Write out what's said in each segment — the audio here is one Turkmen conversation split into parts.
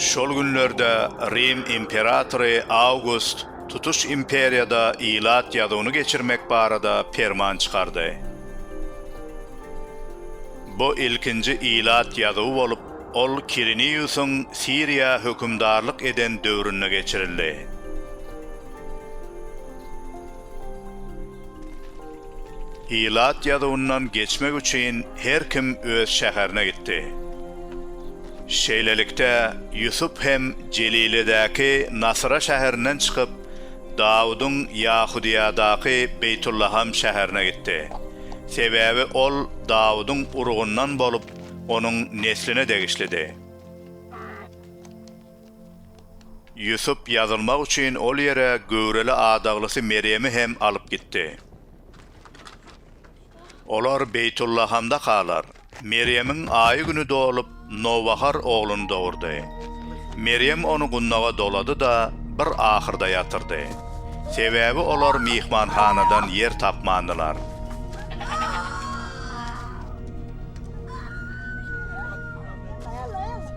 Şol günlerde Rim imperatory Awgust tutuş imperiýada ilat ýazuwyny geçirmek barada perman çykardy. Bu ilkinji ilat ýazuwy bolup, ol Kiriniýusyň Siriýa hökümdarlyk eden döwründe geçirildi. Ilat ýazuwyndan geçmek üçin her kim öz şäherine gitdi. Şeýlelikde, Ýusup hem Jeliledäki Nasyra şäherinden çykyp, Dawudyň Ýahudyýadaky Beýtullaham şäherine gitdi. Sebäbi ol Dawudyň urugyndan bolup, onuň nesline degişlidi. Ýusup ýazylmak üçin ol ýere göwreli adaglysy Merýemi hem alyp gitdi. Olar Beýtullahamda galar. Merýemiň aýy-güni dolup, nowbahar ogluny dogurdy. Merýem ony gundaga dolady-da, bir ahyrda ýatyrdy. Sebäbi olar myhmanhanadan ýer tapmandylar.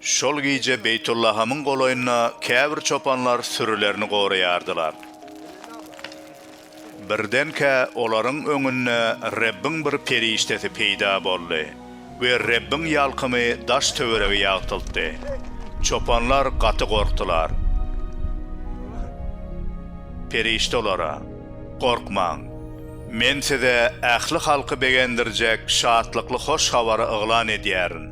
Şol gije Beýtullahamyň golaýynda käbir çopanlar sürülerini goraýardylar. Birdenkä olaryň öňünde Rebbiň bir perişdesi peýda boldy we Rebbiň ýalkymy daş-töweregi ýagtyltdy. Çopanlar gaty gorkdular. Perişde olara, Gorkmaň! Men size ähli halky begendirjek şatlykly hoş habary yglan edýärin.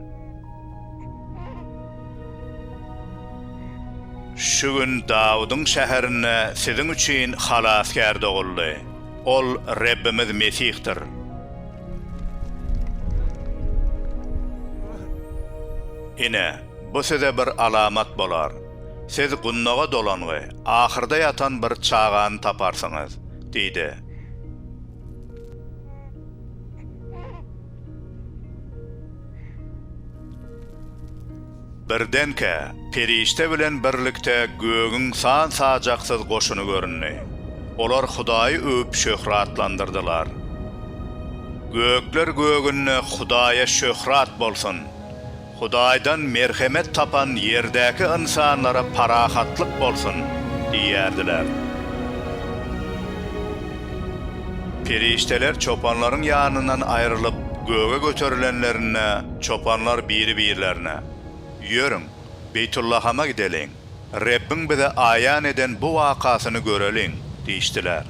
Şu gün Dawudyň şäherinde siziň üçin Halasgär doguldy. Ol Rebbimiz Mesihdir. Ine, bu size bir alamat bolar, siz gundaga dolangy, ahyrda ýatan bir çagany taparsyňyz diýdi. Birdenkä, perişde bilen birlikde gögüň san-sajaksyz goşuny göründi. Olar Hudaýy öwüp şöhratlandyrdylar. Gökler gögünde Hudaýa şöhrat bolsun! Hudaýdan merhemet tapan ýerdäki ynsanlara parahatlyk bolsun! diýerdiler. Perişdeler çopanlaryň ýanyndan aýrylyp, göge göterilenlerinde, çopanlar biri-birlerine, Ýörüň, Beýtullahama gideliň, Rebbiň bize aýan eden bu wakasyny göreliň! diýişdiler.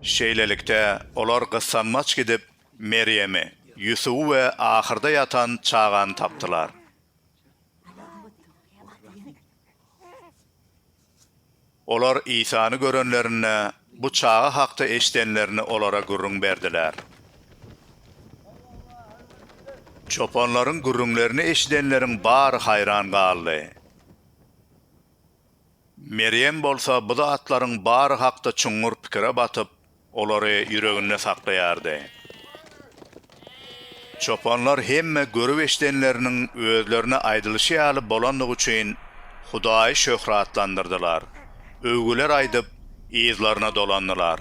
Şeýlelikde, olar gyssanmaç gidip, Merýemi, Ýusuby we ahyrda ýatan çagany tapdylar. Olar Isany görenlerinde, bu çaga hakda eşidenlerini olara gürrüň berdiler. Çopanlaryň gürrüňlerini eşidenleriň bary haýran galdy. Merýem bolsa bu zatlaryň bary hakda çuňňur pikire batyp, olary ýüreginde saklaýardy. Çopanlar hemme görüp-eşidenleriniň özlerine aýdylyşy ýaly bolandygy üçin Hudaýy şöhratlandyrdylar, öwgüler aýdyp, yzlaryna dolandylar.